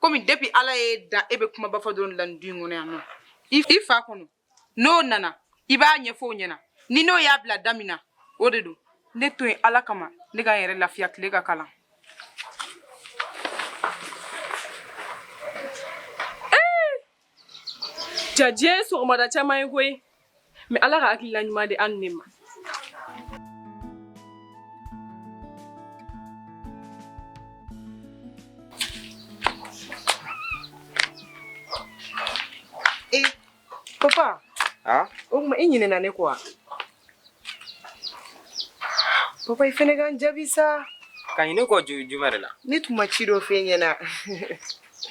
komi depuis ala y'e dan e bɛ kumaba fɔ dɔrɔn la nin du in kɔnɔ yan nɔ i fa kɔnɔ n'o nana i b'a ɲɛfɔ o ɲɛna ni n'o y'a bila da min na o de don ne to yen ala kama ne ka n yɛrɛ lafiya tile ka kalan Ja diɲɛ ye sɔgɔmada caman ye koyi mais Ala ka hakilila ɲuman di annu ma. E papa Aa o tuma i ɲinɛna ne kɔ wa? Papa i fɛnɛ ka n jaabi sa. Ka ɲinɛ kɔ ju jumɛn de la? Ne tun ma ci dɔ f'e ɲɛna.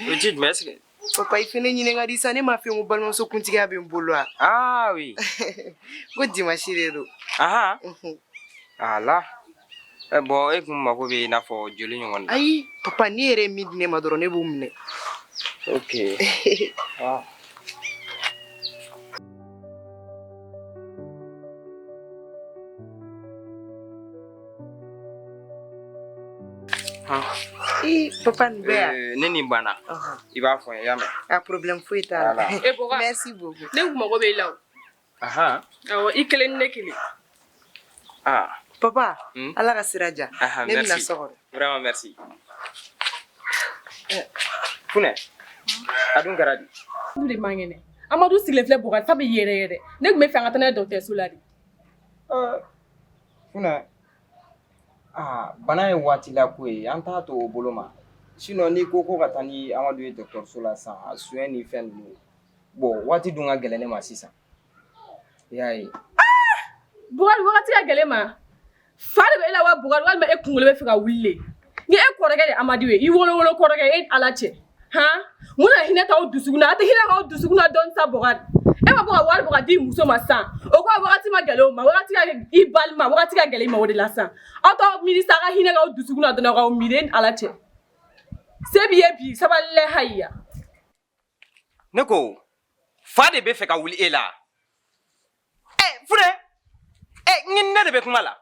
O ye ci jumɛn ye est ce que papa i fɛnɛ ɲinɛ ka di sa ne m'a f'i ye ko balimamuso kuntigiya bɛ n bolo wa ah oui ko dimanche de don aha mhm. ala eh, bon e kun mago bɛ i n'a fɔ joli ɲɔgɔn na ayi papa n'i yɛrɛ ye min di ne ma dɔrɔn ne b'o minɛ ok ah. I papa ni bɛɛ eh, ni nin banna i b'a fɔ n ye i y'a mɛn a problème foyi t'a la ok merci beaucoup ne kun mago bɛ i la o ahan awɔ i kelen ni ne kelen ah papa hmm? ala ka sira diya ne bɛna so kɔnɔ vraiment merci eh, funɛ a dun kɛra di du de man kɛnɛ amadu sigilen filɛ Bukari fari bɛ yɛrɛyɛrɛ ne tun b'a fɛ an ka taa n'a ye dɔgɔtɔrɔso la de Funɛ aa bana ye waati la ko ye an t'a to o bolo ma sinon n'i ko ko ka taa ni Amadu ye dɔgɔtɔrɔso la sisan a soin ni fɛn ninnu bon waati dun ka gɛlɛn ne ma sisan i y'a ye, aa Bukari waati ka gɛlɛn e ma fa de bɛ e la wa Bukari walima e kunkolo bɛ fɛ ka wuli de ni e kɔrɔkɛ de amadu ye i wolowolo kɔrɔkɛ e ala cɛ han mun na hinɛ t'aw dusukun na a tɛ hinɛ k'aw dusukun na dɔɔni sa bɔkari e ma bɔ ka wari bɔ ka di muso ma sisan o ko wagati ma gɛlɛn o ma wagati ka i balima wagati ka gɛlɛn i ma o de la sisan aw t'aw miiri sa a ka hinɛ k'aw dusukun na dɔrɔn k'aw miiri e ni ala cɛ se b'i ye bi sabali lɛ hayiya ne ko fa de bɛ fɛ ka wuli e la ɛ funɛ ɛ n ne de bɛ kuma la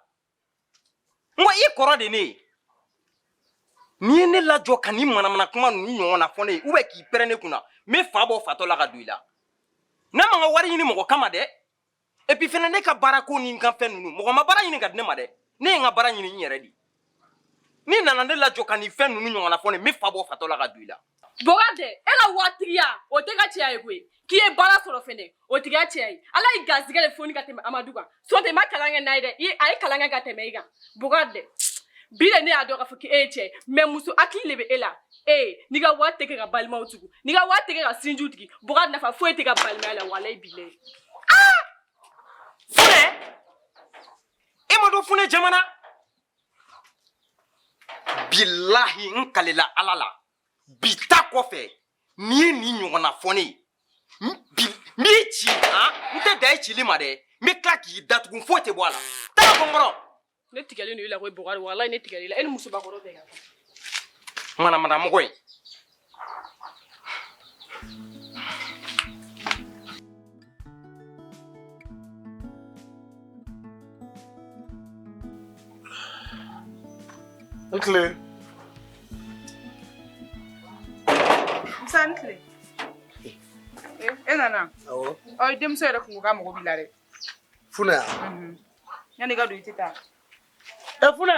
n ko i kɔrɔ de ne ye n'i ye ne lajɔ ka nin manamana kuma ninnu ɲɔgɔnna fɔ ne ye ubiyɛn k'i pɛrɛn ne kunna n bɛ fa bɔ fatɔ la ka don i la ne ma n ka wari ɲini mɔgɔ kama dɛ epi fɛnɛ ne ka baara ko ni n ka fɛn ninnu mɔgɔ ma baara ɲini ka di ne ma dɛ ne ye n ka baara ɲini n yɛrɛ de n'i nana ne lajɔ ka nin fɛn ninnu ɲɔgɔnna fɔ ne ye n bɛ fa bɔ fatɔ la ka don i la Bɔkari e ka waritigiya o t'e ka cɛya ye koyi k'i ye baara sɔrɔ fɛnɛ o t'e ka cɛya ye ala ye garisɛgɛ de foni ka tɛmɛ amadu kan sɔntɛ i ma kalan kɛ n'a ye dɛ a ye kalan kɛ ka tɛmɛ i kan bɔkari bi de ne y'a dɔn k'a fɔ k'e ye cɛ ye mɛ muso hakili de bɛ e la ee n'i ka wari tɛ kɛ ka balimaw tugu n'i ka wari tɛ kɛ ka sinjiw tigi bɔkari nafa foyi t'e ka balimaya la walayi bilayi funɛ e ma dɔn funɛ jamana bilahi n kalela ala la bi ta kɔfɛ n'i ye nin ɲɔgɔnna fɔ ne ye n bi- n b'i ci han n tɛ dan i cili ma dɛ n bɛ tila k'i datugu foyi tɛ bɔ a la taa bɔ n kɔrɔ ne tigɛlen don i la koyi bɔkari walayi ne tigɛlen i la e ni musobakɔrɔ bɛɛ ka kan manamana mɔgɔ ye I ni tile. Musa i ni tile. E nana. Awɔ. Ɔ i denmuso yɛrɛ kun ko k'a mago b'i la dɛ. Funɛ. Yanni i ka don i tɛ taa. Ɛ Funɛ.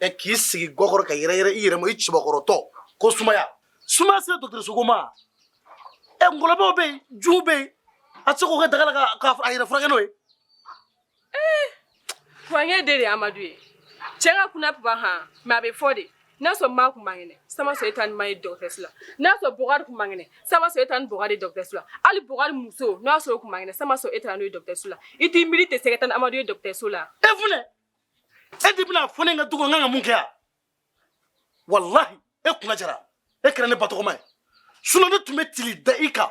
ɛ k'i sigi gwa kɔrɔ ka yɛrɛ yɛrɛ i yɛrɛ ma i cɛbakɔrɔtɔ ko sumaya sumaya sera dɔgɔtɔrɔsoko ma ɛ ngɔlɔbɛw bɛ yen junw bɛ yen a tɛ se k'o kɛ daga la ka ka a yɛrɛ furakɛ n'o ye Kurange de de ye Amadu ye. Cɛn ka kuna papa han, mais a bɛ fɔ de. N'a sɔrɔ ma kun man kɛnɛ, san b'a sɔrɔ e taa ni ma ye dɔgɔtɔrɔso la. N'a sɔrɔ Bɔkari kun man kɛnɛ, san b'a sɔrɔ e taa ni Bɔkari ye dɔgɔtɔrɔso la. Hali Bɔkari muso, n'a sɔrɔ o kun man kɛnɛ, san b'a sɔrɔ e taara n'o ye dɔgɔtɔrɔso la. I t'i miiri ten sa ka taa ni Amadu ye dɔgɔtɔrɔso la. e funɛ e de bɛna fɔ ne ka du kɔnɔ n kan ka mun kɛ yan walahi e kunna jara e kɛra ne batɔgɔma ye sinɔ ne tun bɛ cili da i kan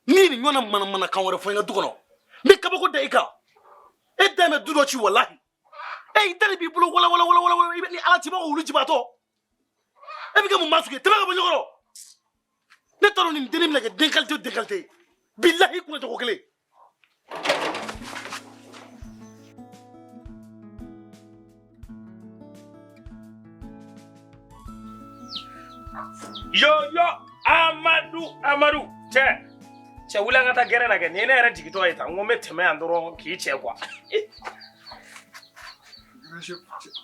ni nin ɲɔgɔnna manamanakan wɛrɛ fɔ n ka du kɔnɔ n bɛ kabako da i kan e da bɛ du dɔ ci walahi e i da de b'i bolo walawalawalawala i bɛ ni ala cibagaw wulu jibaatɔ e bɛ kɛ mun maa sugu ye tɛmɛ ka bɔ n ɲɛ kɔrɔ ne t'a dɔn nin dennin bɛna kɛ den kalite o den kalite ye bilahi kunna cogo kelen Yoyo Amadu Amadu cɛ cɛ wuli an ka taa gɛrɛn na kɛ nin ye ne yɛrɛ jigitɔ ye tan n ko n bɛ tɛmɛ yan dɔrɔn k'i cɛ quoi.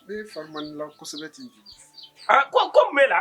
Ne fari man di la kosɛbɛ ten. Ko ko mun b'e la?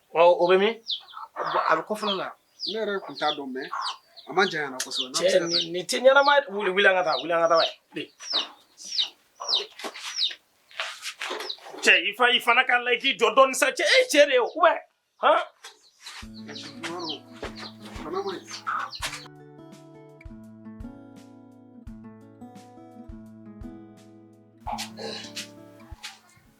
Ɔ o bɛ min a bɛ kɔfɛ la ne yɛrɛ tun t'a dɔn mais a man jan kosɛbɛ nin tɛ ɲɛnama wuli wuli ka taa wuli ka taa cɛ i fa i fana ka la i k'i jɔ dɔɔnin sa cɛ e cɛ de ye o ou bien han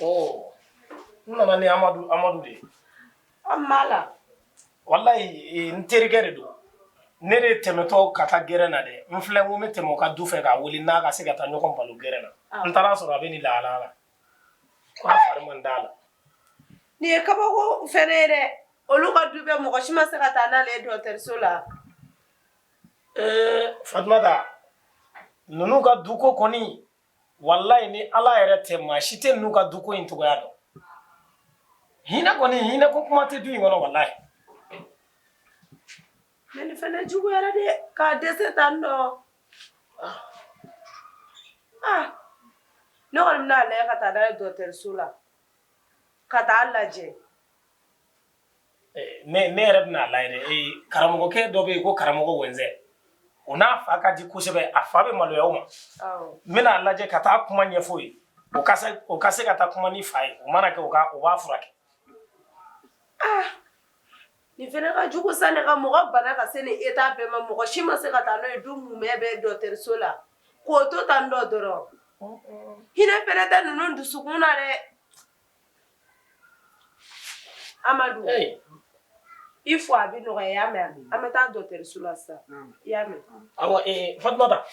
Oh. N nana ni Amadu Amadu de ye. Mun b'a la? Walayi ee n terikɛ de don. Ne de tɛmɛtɔ ka taa gɛrɛn na dɛ. N filɛ n ko n bɛ tɛmɛ o ka du fɛ k'a wele n'a ka se ka taa ɲɔgɔn baro gɛrɛn na. N taara sɔrɔ a bɛ nin lahala la. Ko a fari man d'a la. Nin ye kabako fana ye dɛ. Olu ka du bɛɛ mɔgɔ si ma se ka taa n'ale ye dɔgɔtɔrɔso la. Ee Fatumata, ninnu ka duko kɔni, walayi ni ala yɛrɛ tɛ maa si tɛ ninnu ka duko in cogoya dɔn hinɛ kɔni hinɛ ko kuma tɛ du in kɔnɔ walayi mais nin fana juguyara dɛ k'a dɛsɛ tan nɔ ah. ah. ne kɔni bɛna a lajɛ ka taa n'a ye dɔgɔtɔrɔso la ka taa a lajɛ Ne yɛrɛ bɛna a lajɛ dɛ karamɔgɔkɛ dɔ bɛ yen ko karamɔgɔ Wɛnzɛ o n'a fa ka di kosɛbɛ a fa bɛ maloya o ma n bɛna a lajɛ ka taa kuma ɲɛfɔ o ye o ka se ka taa kuma ni fa ye o mana kɛ u b'a furakɛ nin fana ka jugu sa ne ka mɔgɔ bana ka se nin état bɛɛ ma mɔgɔ si ma se ka taa n'o ye du mumɛ bɛɛ dɔgɔtɔrɔso la k'o to tan dɔ dɔrɔn hinɛ fana tɛ ninnu dusukun na dɛ Amadu i fo a bɛ nɔgɔya y'a mɛn an bɛ taa dɔgɔtɔrɔso la sisan i y'a mɛn Fatumata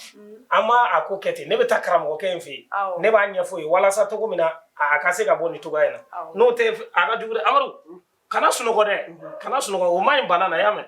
an ma a ko kɛ ten ne bɛ taa karamɔgɔkɛ in fɛ yen ne b'a ɲɛfɔ ye walasa cogo min na a ka se ka bɔ nin cogoya in na n'o tɛ a ka jugu dɛ Amadu kana sunɔgɔ dɛ kana sunɔgɔ o man ɲi bana na y'a mɛn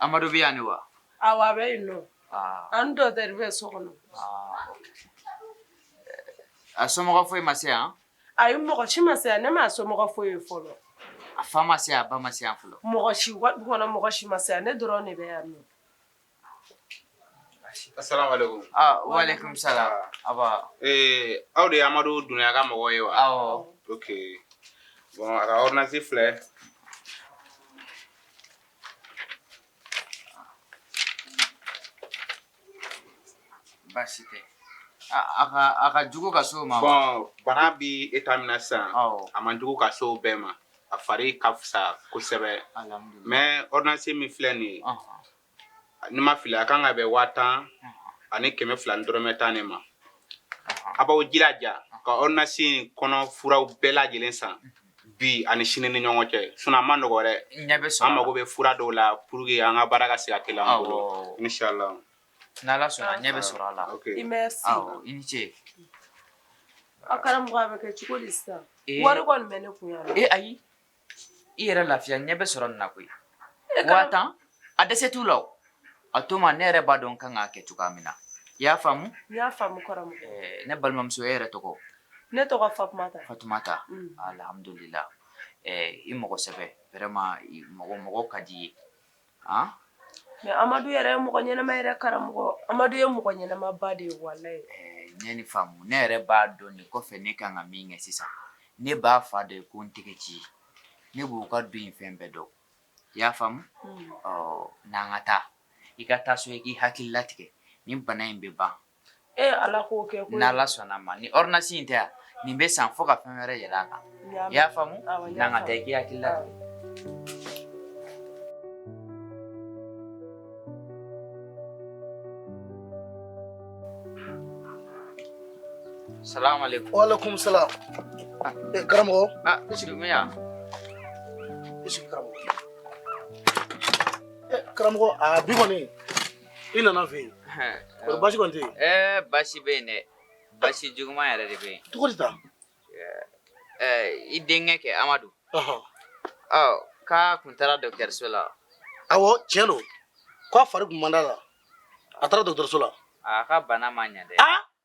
Amadu bɛ yan wa awɔ a bɛ yen nɔ a ni dɔgɔtɔrɔ bɛ so kɔnɔ a somɔgɔ foyi ma se yan ayi mɔgɔ si ma se yan ne ma a somɔgɔ foyi ye fɔlɔ a fa ma se yan a ba ma se yan fɔlɔ mɔgɔ si du kɔnɔ mɔgɔ si ma se yan ne dɔrɔn de bɛ yan Wa alekum salam aw de amadu dunbiya ka mɔgɔ ye wa awɔ ok bɔn a ka ɔrdɔnansi filɛ baasi tɛ a ka jugu ka s'o ma bana bɛ eta min na sisan a man jugu ka s'o bɛɛ ma a fari ka fisa kosɛbɛ mɛ ɔrdɔnansi min filɛ nin ye ni n ma fili a kan ka bɛn waa tan ani kɛmɛ fila ni dɔrɔmɛ tan de ma a b'aw jilaja ka ɔrdɔnansi in kɔnɔ furaw bɛɛ lajɛlen san bi ani sini ni ɲɔgɔn cɛ sinɔn a man nɔgɔ dɛ an mago bɛ fura dɔw la pour que an ka baara ka se ka teliya an bolo inisala N' ala sɔnna a ɲɛ bɛ sɔrɔ a la i i ni ce a karamɔgɔ a bɛ kɛ cogo di sisan wari bɛ ne kun yan ayi i yɛrɛ lafiya ɲɛ bɛ sɔrɔ nin na koyi waa tan a dɛsɛ t'u la a to n ma ne yɛrɛ b'a dɔn n ka kan k'a kɛ cogoya min na i y'a faamu n y'a faamu ne balimamuso e yɛrɛ tɔgɔ ne tɔgɔ fatumata fatumata alhamdulilahi i mɔgɔ sɛbɛ vraiment mɔgɔ ka di i ye mɛ amadu yɛrɛ ye mɔgɔ ɲɛnama yɛrɛ karamɔgɔ amadu ye mɔgɔ ɲɛnamaba de ye walayi n ye nin faamu ne yɛrɛ b'a dɔn nin kɔfɛ ne ka kan ka min kɛ sisan ne b'a fa dɔn ko n tɛgɛ ci ne b'u ka du in fɛn bɛɛ dɔn i y'a faamu ɔ n'an ka taa i ka taa so i k'i hakili latigɛ nin bana in bɛ ban Ee ala k'o kɛ koyi ni ala sɔnna ma ni ɔrdɔnansi in tɛ yan nin bɛ san fo ka fɛn wɛrɛ yɛlɛ a kan i y'a faamu n'an ka taa i k'i hakili la salamu alekum wa alekum salam karamɔgɔ karamɔgɔ karamɔgɔ a bi kɔni i nana n fɛ yen kɔri basi kɔni tɛ yen ɛɛ basi bɛ yen dɛ basi juguman yɛrɛ de bɛ yen cogo di tan i denkɛ kɛ amadu ɔ k'a kun taara dɔgɔtɔrɔso la awɔ tiɲɛ don k'a fari kun man d'a la a taara dɔgɔtɔrɔso la a ka bana ma ɲɛ dɛ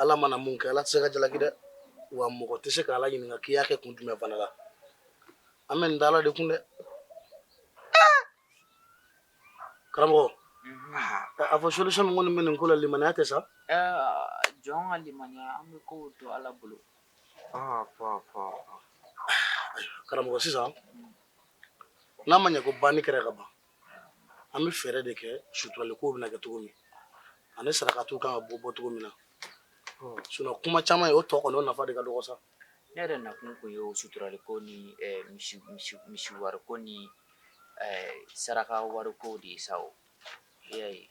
Ala mana mun kɛ ala tɛ se ka jalaki dɛ wa mɔgɔ tɛ se k' ala ɲininka k'i y'a kɛ kun jumɛn fana la an bɛ nin da ala de kun dɛ karamɔgɔ a fɔ solution minnu kɔni bɛ nin ko la limaniya tɛ sa jɔn ka limaniya an bɛ kow to ala bolo karamɔgɔ sisan n'a ma ɲɛ ko ban ni kɛra ka ban an bɛ fɛɛrɛ de kɛ suturali kow bɛna kɛ cogo min ani sarakatiw kan ka bɔ bɔ cogo min na sinon kuma caman ye o tɔ kɔni o nafa de ka dɔgɔ sa ne yɛrɛ nakun kun ye o suturali ko ni eh, misi misi misi wari ko ni eh, saraka wari ko de ye sa o i y'a ye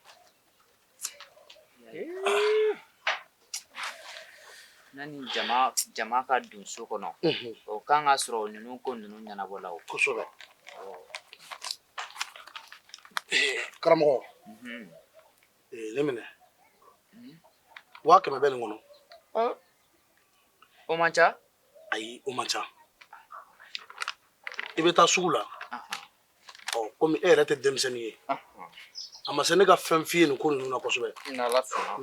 Nani jama jama ka don so kɔnɔ o kan ka sɔrɔ ninnu ko ninnu ɲɛnabɔla o kosɛbɛ karamɔgɔ nin minɛ waa kɛmɛ bɛ nin kɔnɔ o man ca ayi o man ca i bɛ taa sugu la ɔ komi e yɛrɛ tɛ denmisɛnnin ye a ma se ne ka fɛn f'i ye nin ko ninnu na kosɛbɛ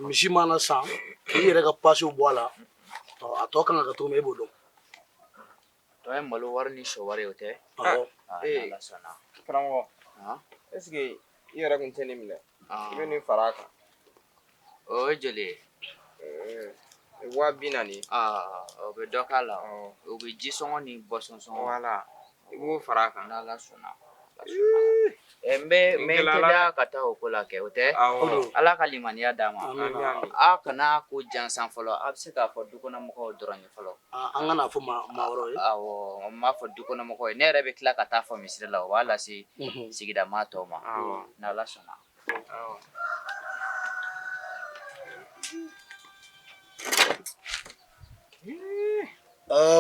misi mana san k'i yɛrɛ ka pasiw bɔ a la a tɔ kan ka kɛ cogo min e b'o dɔn tɔ ye malo wari ni sɔ wari ye o tɛ karamɔgɔ est-ce que i yɛrɛ tun tɛ nin minɛ i bɛ nin fara a kan o ye joli ye waa bi naani o bɛ dɔ k'a la o bɛ ji sɔngɔ ni boisson sɔngɔ voilà i b'o fara a kan n'ala sɔnna n bɛ n bɛ teliya ka taa o ko la kɛ o tɛ ala ka limaniya d'a ma aa kana ko jansan fɔlɔ a bɛ se k'a fɔ dukɔnɔmɔgɔw dɔrɔn ye fɔlɔ an kana fɔ maa n b'a fɔ dukɔnɔmɔgɔw ye ne yɛrɛ bɛ tila ka taa fɔ misiri la o b'a lase sigida maa tɔw ma n'ala sɔnna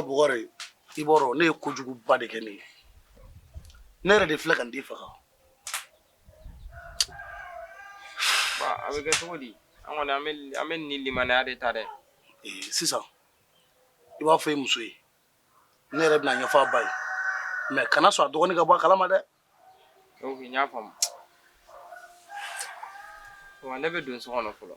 bugɔri i b'a dɔn ne ye kojuguba de kɛ ne ye ne yɛrɛ de filɛ ka n den faga A bɛ kɛ cogo di an kɔni an bɛ nin limaniya de ta dɛ sisan i b'a fɔ i muso ye ne yɛrɛ bɛna ɲɛfɔ a ba ye mais kana sɔn a dɔgɔnin ka bɔ a kalama dɛ y'a faamu ne bɛ don so kɔnɔ fɔlɔ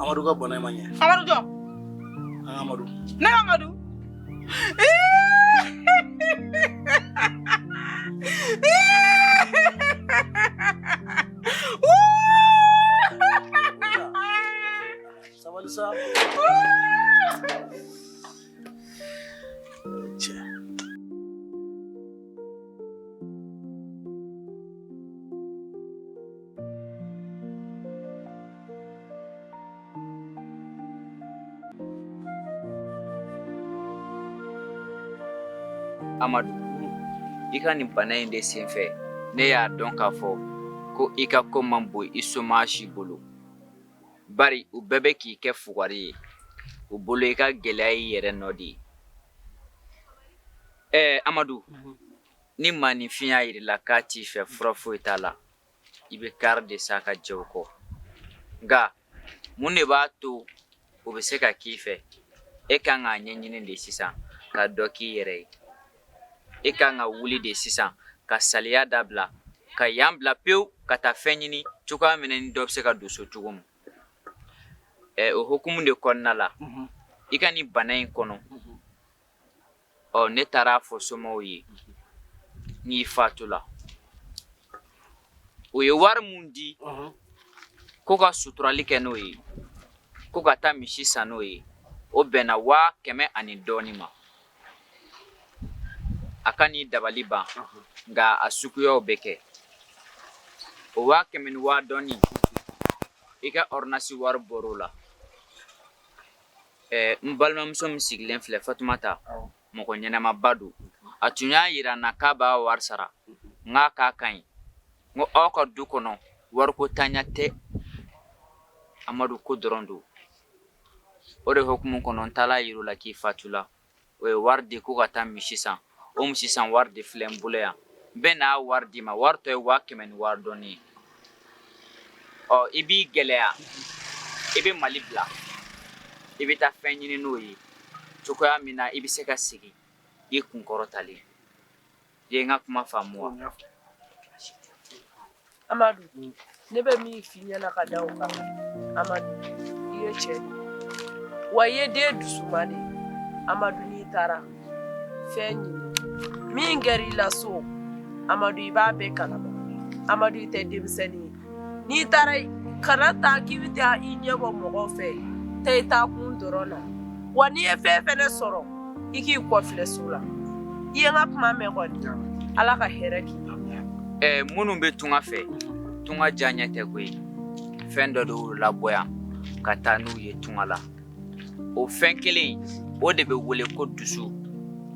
amadu ka bana ma ɲɛ amadu jɔ an amadu ne amadu sabali sa Amadu i ka nin bana in de senfɛ ne y'a dɔn k'a fɔ ko i ka ko man bon i somaa si bolo bari u bɛɛ bɛ k'i kɛ fugari ye u bolo i ka gɛlɛya y'i yɛrɛ nɔ de ye ɛɛ amadu ni maaninfin y'a yir'i la k'a t'i fɛ fura foyi t'a la i bɛ kari de sa ka jɛ o kɔ nka mun de b'a to o bɛ se ka k'i fɛ e ka kan k'a ɲɛɲini de sisan ka dɔ k'i yɛrɛ ye e ka kan ka wuli de sisan ka saliya dabila ka yan bila pewu ka taa fɛn ɲini cogoya min e ni dɔ bɛ se ka don so cogo min ɛ o hukumu de kɔnɔna la i ka nin bana in kɔnɔ ɔ ne taar'a fɔ somaaw ye n'i fatula o ye wari min di ko ka suturali kɛ n'o ye ko ka taa misi san n'o ye o bɛnna waa kɛmɛ ani dɔɔnin ma a ka n'i dabali ban nka a suguyaw bɛ kɛ o waa kɛmɛ ni waa dɔɔnin i ka ɔrdɔnansi wari bɔra o la Ɛɛ n balimamuso min sigilen filɛ fatumata mɔgɔ ɲɛnamaba don a tun y'a yira n na k'a b'a wari sara n k'a k'a ka ɲi n ko aw ka du kɔnɔ wariko tanya tɛ amadu ko dɔrɔn don o de hukumu kɔnɔ n taal'a yir'u la k'i fatula o ye wari di ko ka taa misi san o misi san wari de filɛ n bolo yan n bɛn'a wari d'i ma wari tɔ ye waa kɛmɛ ni wari dɔɔni ye ɔ i b'i gɛlɛya i bɛ mali bila i bɛ taa fɛn ɲini n'o ye cogoya min na i bɛ se ka segin i kunkɔrɔtalen Ye n ka kuma faamu wa? Amadu ne bɛ min f'i ɲɛna ka da o kan Amadu i ye cɛ de ye wa i ye den dusuma de ye Amadu n'i taara fɛn ɲini min kɛr'i la so Amadu i b'a bɛɛ kalama Amadu i tɛ denmisɛnni ye n'i taara kana taa k'i bɛ taa i ɲɛ bɔ mɔgɔ fɛ taa i taa kun dɔrɔn na wa n'i ye fɛn fɛnɛ sɔrɔ i k'i kɔfilɛ so la i ye n ka kuma mɛn kɔni ala ka hɛrɛ k'i ye minnu bɛ tunga fɛ tunga diyaɲɛ tɛ koyi fɛn dɔ de y'u labɔ yan ka taa n'u ye tunga la o fɛn kelen o de bɛ wele ko dusu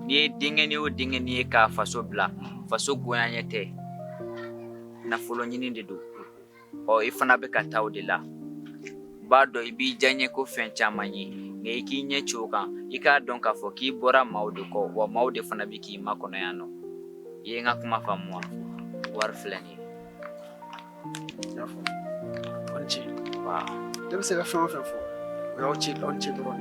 n'i ye denkɛni o denkɛni ye k'a faso bila faso goyaɲɛ tɛ nafolo ɲini de don ɔ i fana bɛ ka taa o de la b'a dɔn i b'i diyaɲɛko fɛn caman ye nka i k'i ɲɛ ci o kan i k'a dɔn k'a fɔ k'i bɔra maaw de kɔ wa maaw de fana bɛ k'i makɔnɔ yan nɔ i ye n ka kuma faamu wa wari filɛ nin ye aw ni ce wa ne bɛ se ka fɛn o fɛn fɔ o y'aw ni ce aw ni ce dɔrɔn